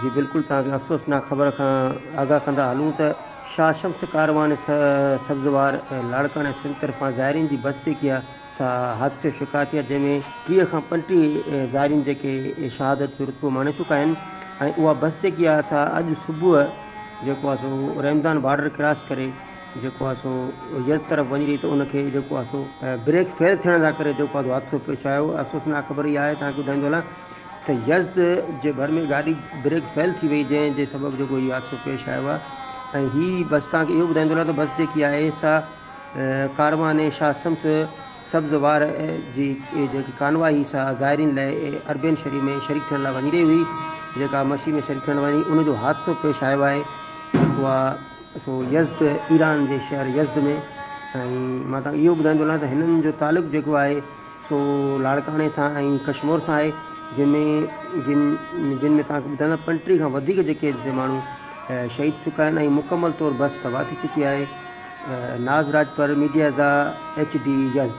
جي بلڪل توهان کي افسوسناڪ خبر کان آگاهه ڪندا هلون ته شاهه شمس ڪاروان سبزوار لاڙڪاڻي سنڌ طرفان زائرين جي بس جيڪي آهي سا حادثي جو شڪار ٿي آهي جنهن ۾ ٽيهه کان پنٽيهه زائرين جيڪي شهادت جو رتبو ماڻي چڪا آهن ۽ اها بس جيڪي آهي سا اڄ صبح جيڪو آهي سو رحمدان بارڊر ڪراس ڪري جيڪو آهي سو يزد طرف وڃي رهي ته ان کي جيڪو آهي سو بريڪ فيل ٿيڻ جا ڪري جيڪو آهي سو حادثو پيش آيو افسوسناڪ خبر اها آهي توهانکي ٻڌائيندو هلان ته يزد جي ڀر ۾ گاڏي بريڪ فيل ٿي وئي جنهن جي سبب جيڪو هي حادثو پيش آيو آهي ۽ هي بس توهانکي اهو ٻڌائيندو هلان ته بس جيڪي آهي سا ڪاروان شاهه شمس سبز وار جي جيڪي ڪانواء هي سا زائرين لاء اربين شريف ۾ شريڪ ٿيڻ لاء وڃي رهي هئي جيڪا مسيح ۾ شريڪ ٿيڻ وڃي ان جو حادثو پيش آيو آهي جيڪو آهي سو يزد، ايران جي شهر يزد ۾، ۽ مان توهان کي اهو ٻڌائيندو هلان ته هنن جو تعلق جيڪو آهي سو لاڙڪاڻي سان ۽ ڪشمور سان آهي، جن ۾ جن جن ۾ توهان کي ٻڌائيندو پنٽيهه کان وڌيڪ جيڪي هتي ماڻهو شهيد ٿي چڪا آهن ۽ مڪمل طور بس تباهه ٿي چڪي آهي. ناز راڄپر، ميڊيازا ايڇ ڊي، يزد.